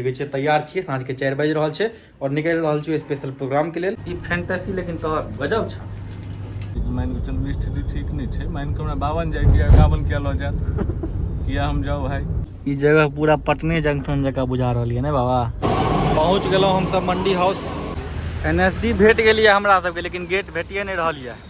देखै छियै तैयार छियै साँझके चारि बाजि रहल छै आओर निकलि रहल छियै स्पेशल प्रोग्रामके लेल ई फैंटेसी लेकिन तोहर गजब छौ मानि कऽ चलू स्थिति ठीक नहि छै मानि कऽ हमरा बावन जाइ किया एकावन किया लऽ जायत किया हम जाउ भाय ई जगह पूरा पटने जंक्शन जकाँ बुझा रहल यऽ ने बाबा पहुँच गेलहुँ हमसभ Mandi house N S D भेट गेलियै हमरा सबके लेकिन गेट भेटिए नहि रहल यऽ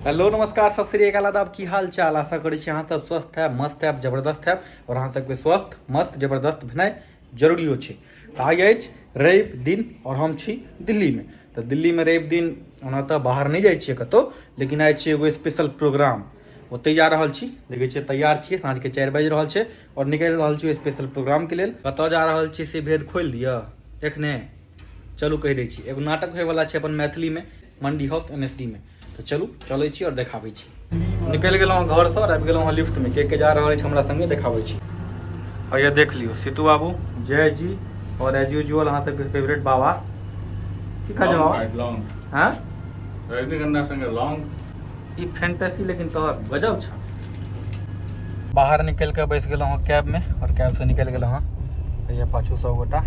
हेलो नमस्कार सत श्री अकाल आदाब की हाल चाल आशा करै छी अहाँ सब स्वस्थ है मस्त है जबरदस्त है और अहाँ सबके स्वस्थ मस्त जबरदस्त भेनाइ जरूरी छै तऽ आइ अछि रवि दिन और हम छी दिल्ली में तो दिल्ली में रवि दिन ओना तऽ बाहर नहीं जाइ छियै कतहु लेकिन आइ छी एगो स्पेशल प्रोग्राम ओतहि जा रहल छी देखै छियै तैयार छियै साँझके चारि बाजि रहल छै आओर निकलि रहल छियै स्पेशल प्रोग्रामके लेल कतय जा रहल छियै से भेद खोलि दिअ एखने चलू कहि दै छी एगो नाटक होयवला छै अपन मैथिलीमे मंडी हाउस एन एस डीमे तऽ चलू चलै छी आओर देखाबै छी निकलि गेलहुँ घरसँ आओर आबि गेलहुँ हँ लिफ्टमे के के जा रहल अछि हमरा सङ्गे देखाबै छी आओर यह देख लियौ सीतू बाबू जय जी आओर एज यूजुअल अहाँ सबके फेवरेट बाबा की कहै छै बाबा लॉन्ग हैं रजनीगंधा संगे लॉन्ग ई फैंटेसी लेकिन तोहर गजब छ बाहर निकल के बैस गल हँ कैब में और कैब से निकल गल हँ भैया पाछू सब गोटा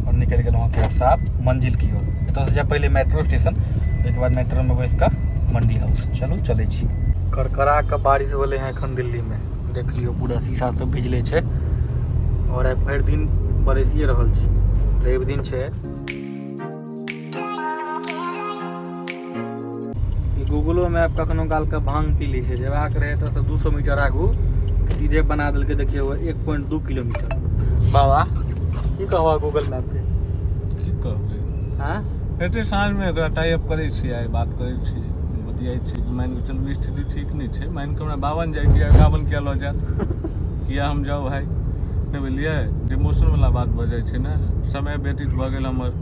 और निकल गल हँ कैब से आप मंजिल की ओर एतऽ से जाए पहले मेट्रो स्टेशन ओहिके बाद मेट्रो में बैस कऽ मंडी हाउस चलू चलै छी करकरा के बारिश होले हैं एखन दिल्ली में देख लियो पूरा शीशा सब भिजले छै और आइ भरि दिन बरसिए रहल छी रवि दिन छै गूगलो मैप कखनो काल के भांग पी लै छै जेबाक रहै एतऽसँ दू सए मीटर आगू सीधे बना देलकै देखियौ एक पॉइंट दू किलोमीटर बाबा की कहबह गूगल मैपके की कहबै हँ एते साँझमे एकरा टाइप करै छी आइ बात करै छी बतियाइ छी कि मानि कऽ चलू स्थिति ठीक नहि छै मानि कऽ हमरा बावन जाइ छी एकावन किया लऽ जायत किया हम जाउ भाय नहि बुझलियै जे मौसमवला बात भऽ जाइ छै ने समय व्यतीत भऽ गेल हमर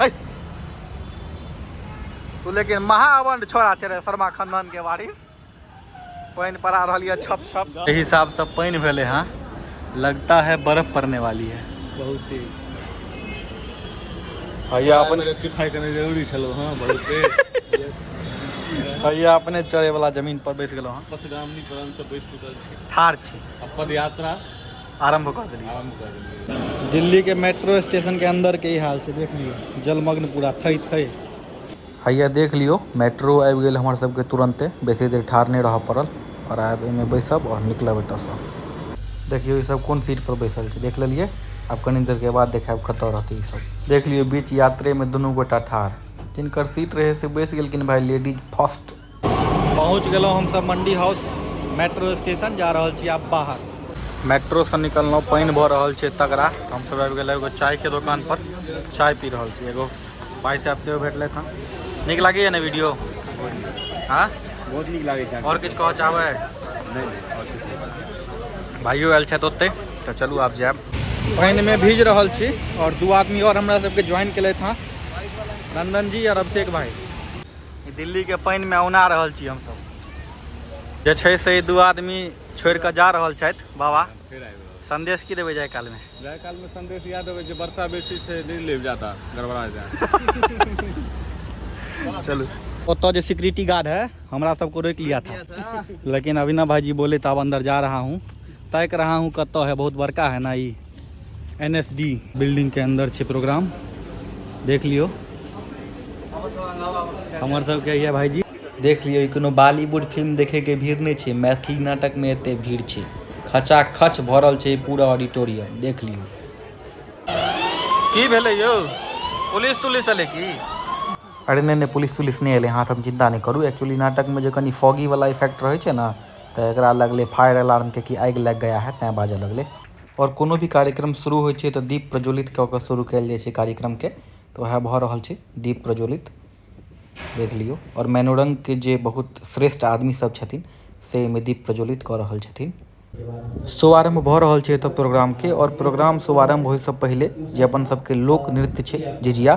है तू लेकिन महाअवंड छोड़ा छे रे शर्मा खानदान के वारिस पानि पड़ा रही है छप छप एहि हिसाब से पानि भेले हाँ लगता है बर्फ पड़ने वाली है बहुत तेज भैया अपन रेक्टिफाई करने जरूरी छलो हाँ बहुत तेज भैया अपने चढ़े वाला जमीन पर बैस गेलो हाँ पसगामनी पर हम सब बैस चुकल छी ठार छी आ पदयात्रा आरम्भ कऽ देलियै आरम्भ कऽ देलियै दिल्लीके मेट्रो स्टेशनके अन्दरके ई हाल छै देख लियौ जलमग्न पूरा थै थै हैया देख लियौ मेट्रो आबि गेल हमर सबके तुरन्ते बेसी देर ठाढ़ नहि रहऽ पड़ल आओर आब एहिमे बैसब आओर निकलब एतऽसँ देखियौ ई सब कोन सीटपर बैसल छै देख लेलियै आब कनी देरके बाद देखायब कतऽ रहतै ई सब देख लियौ बीच यात्रेमे दुनू गोटा ठाढ़ जिनकर सीट रहै से बैस गेलखिन भाय लेडीज फर्स्ट पहुँच गेलहुँ हमसभ मण्डी हाउस मेट्रो स्टेशन जा रहल छी आब बाहर मेट्रोसँ निकललहुँ पानि भऽ रहल छै तगड़ा तऽ हमसभ आबि गेलहुँ एगो चायके दोकानपर चाय पी रहल छी एगो भाई साहब सेहो भेटलथि हँ नीक लागैए ने वीडियो हँ बहुत नीक लागै छै आओर किछु कहऽ चाहबै नहि नहि आओर किछु नहि। भाइयो आयल छथि ओतै तऽ चलू आब जायब पानिमे भीज रहल छी आओर दू आदमी आओर हमरा सबके ज्वाइन केलथि हँ नंदन जी आओर अभिषेक भाई दिल्लीके पानिमे औना रहल छी हमसभ जे छै से दू आदमी छोड़ि कऽ जा रहल छथि बाबा संदेश की देबै जाय कालमे जाय कालमे संदेश इएह देबै जे वर्षा बेसी छै नहि लेब जाता गड़बड़ा जाए चलू ओतऽ जे सिक्योरिटी गार्ड है हमरा सबको रोक लिया था लेकिन अभी ना भाईजी बोले तो अब अंदर जा रहा हूँ तैक रहा हूँ कत है बहुत बड़का है ना ये एन एस डी बिल्डिंग के अंदर छै प्रोग्राम देख लियो हमर सबके यह भाईजी देख लियो कोनो बॉलीवुड फिल्म देखे के भीड़ नहीं छै मैथिली नाटक में एते भीड़ छै खचा खच भरल छै पूरा ऑडिटोरियम देख लियो की भेले यो पुलिस तुलिस अले की अरे नहीं नहीं पुलिस तुलिस नहीं अले हाँ हम चिंता नहीं करू एक्चुअली नाटक में जो कनी फॉगी वाला इफेक्ट रहे ना तो एक लगले फायर अलार्म के कि आग लग गया है तैं बाजे लगले आओर कोनो भी कार्यक्रम शुरू होइ छै तऽ दीप प्रज्वलित कऽ कऽ शुरू कएल जाइ छै कार्यक्रमके तऽ वएह भऽ रहल छै दीप प्रज्वलित देख लिऔ आओर मनोरङ्गके जे बहुत श्रेष्ठ आदमीसब छथिन से एहिमे दीप प्रज्वलित कऽ रहल छथिन शुभारम्भ भऽ रहल छै एतऽ प्रोग्रामके आओर प्रोग्राम शुभारम्भ होइसँ पहिले जे अपन सबके लोकनृत्य छै झिझिया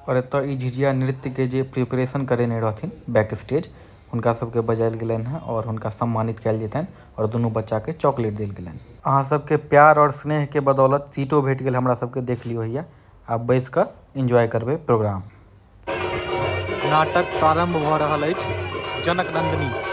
आओर एतऽ ई झिझिया नृत्यके जे प्रिपरेशन करेने रहथिन बैक स्टेज हुनका सबके बजायल गेलनि हँ आओर हुनका सम्मानित कयल जेतनि आओर दुनू बच्चाके चॉकलेट देल गेलनि अहाँ सबके प्यार आओर स्नेहके बदौलत सीटो भेट गेल हमरा सबके देख लियौ हैया आब बैस कऽ एंजॉय करबै प्रोग्राम नाटक प्रारंभ भऽ रहल अछि जनक नंदिनी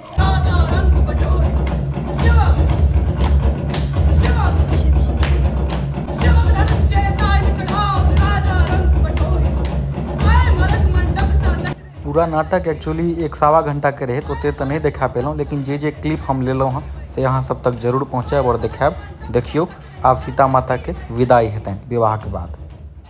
पूरा नाटक एक्चुअली एक सवा घंटा के रहे तो ओते तो नहीं देखा पेलहुँ लेकिन जे जे क्लिप हम लेलहुँ हँ से अहाँ सब तक जरूर पहुँचायब और देखायब देखियो आब सीता माता के विदाई हेतनि विवाह के बाद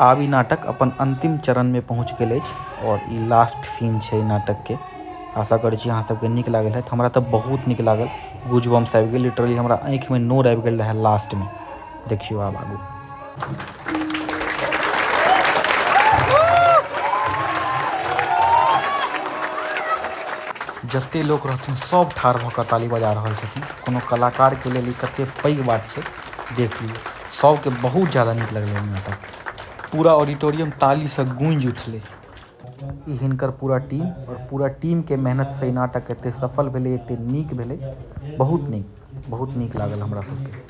आब ई नाटक अपन अंतिम चरण में पहुँच गेल अछि और ई लास्ट सीन छै नाटक के आशा करै छी अहाँ सबके नीक लागल है हमरा तऽ बहुत नीक लागल गुजबम्स आबि गेल लिटरली हमरा आँखि में नोर आबि गेल रहै लास्ट में देखियौ आब आगू जते लोक रहथिन सब ठार भऽ कऽ ताली बजा रहल छथिन कोनो कलाकारके लेल ई कते पैघ बात छै देख लियौ सबके बहुत ज्यादा नीक लगलै नाटक पूरा ऑडिटोरियम तालीसँ गूँजि उठलै ई हिनकर पूरा टीम आओर पूरा टीमके मेहनतसँ ई नाटक एते सफल भेलै एते नीक भेलै बहुत नीक बहुत नीक लागल हमरा सबके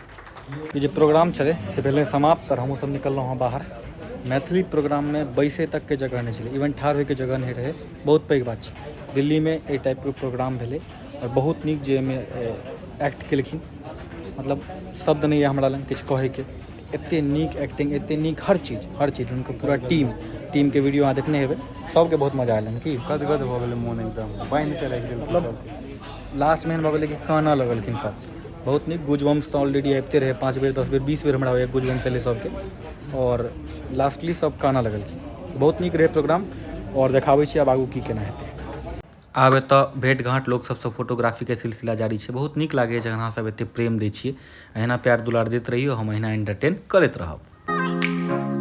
ई जे प्रोग्राम छलै से भेलै समाप्त आओर हमहूँसभ निकललहुँ हँ बाहर मैथिली प्रोग्राममे बैसे तकके जगह नहि छलै इवन ठाढ़ होइके जगह नहि रहै बहुत पैघ बात छै दिल्लीमे एहि टाइपके प्रोग्राम भेलै आओर बहुत नीक जे एहिमे एक्ट केलखिन मतलब शब्द नहि यऽ हमरा लग किछु कहैके एते नीक एक्टिंग एते नीक हर चीज हर चीज हुनकर पूरा टीम टीम के वीडियो अहाँ देखने हेबै सबके बहुत मजा आयल की गदगद भऽ गेलै मोन एकदम बान्हि कऽ राखि देलकै मतलब लास्ट में भऽ गेलै कि काना लगलखिन सब बहुत नीक गुजबम्स तऽ ऑलरेडी आबिते रहै पाँच बेर दस बेर बीस बेर हमरा होइए गुजबम्स एलै सबके आओर लास्टली सब काना लगलखिन बहुत नीक रहै प्रोग्राम आओर देखाबै छी आब आगू की केना हेतै आब एतऽ भेट घाँट लोक सबसँ फोटोग्राफीके सिलसिला जारी छै बहुत नीक लागैए जखन अहाँ सब एते प्रेम दै छियै अहिना प्यार दुलार दैत रहियौ हम अहिना एन्टरटेन करैत रहब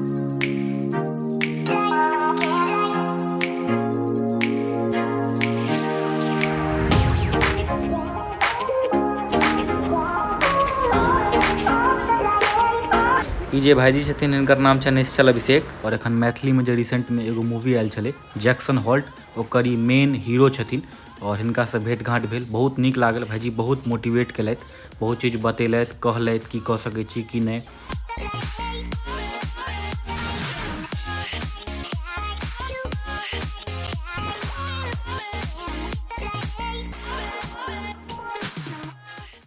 ई जे भाइजी छथिन हिनकर नाम छनि निश्चल अभिषेक आओर एखन मैथिलीमे जे रिसेन्टमे एगो मूवी आयल छलै जैक्सन हॉल्ट ओकर ई मेन हीरो छथिन आओर हिनकासँ भेट घाँट भेल बहुत नीक लागल भाइजी बहुत मोटिवेट केलथि बहुत चीज बतेलथि कहलथि की कऽ सकै छी की नहि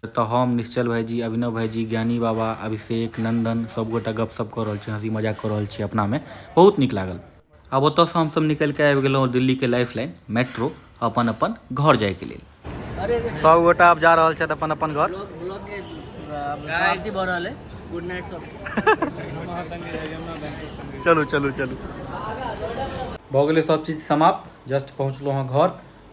तऽ हम निश्चल भाईजी अभिनव भाईजी ज्ञानी बाबा अभिषेक नंदन सबगोटा गपशप कऽ रहल छी हँसी मजाक कऽ रहल छी अपनामे बहुत नीक लागल आब ओतयसँ हमसभ निकलि कऽ आबि गेलहुँ दिल्लीके लाइफ लाइन मेट्रो अपन अपन घर जायके लेल सभ गोटा आब जा रहल छथि अपन अपन घर चलू चलू चलू भऽ गेलै सभ चीज समाप्त जस्ट पहुँचलहुँ हँ घर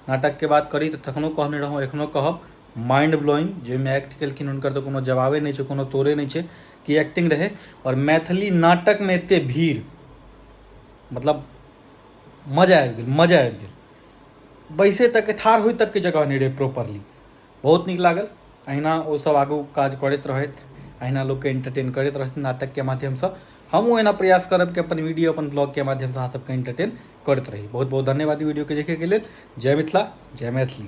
नाटकके बात करी तऽ तखनो कहने रहौँ एखनो कहब माइंड ब्लोइंग जाहिमे एक्ट केलखिन हुनकर तऽ कोनो जवाबे नहि छै कोनो तोड़े नहि छै कि एक्टिंग रहै आओर मैथिली नाटकमे एतेक भीड़ मतलब मजा आबि गेल मजा आबि गेल बैसै तकके ठाढ़ होइ तकके जगह नहि रहै प्रॉपरली बहुत नीक लागल अहिना ओसभ आगू काज करैत रहथि अहिना लोकके एन्टरटेन करैत रहथि नाटकके माध्यमसँ हमहूँ एना प्रयास करब कि अपन वीडियो अपन ब्लॉगके माध्यमसँ अहाँसभके एन्टरटेन करैत रही बहुत बहुत धन्यवाद ई वीडियोके देखयके लेल जय मिथिला जय मैथिली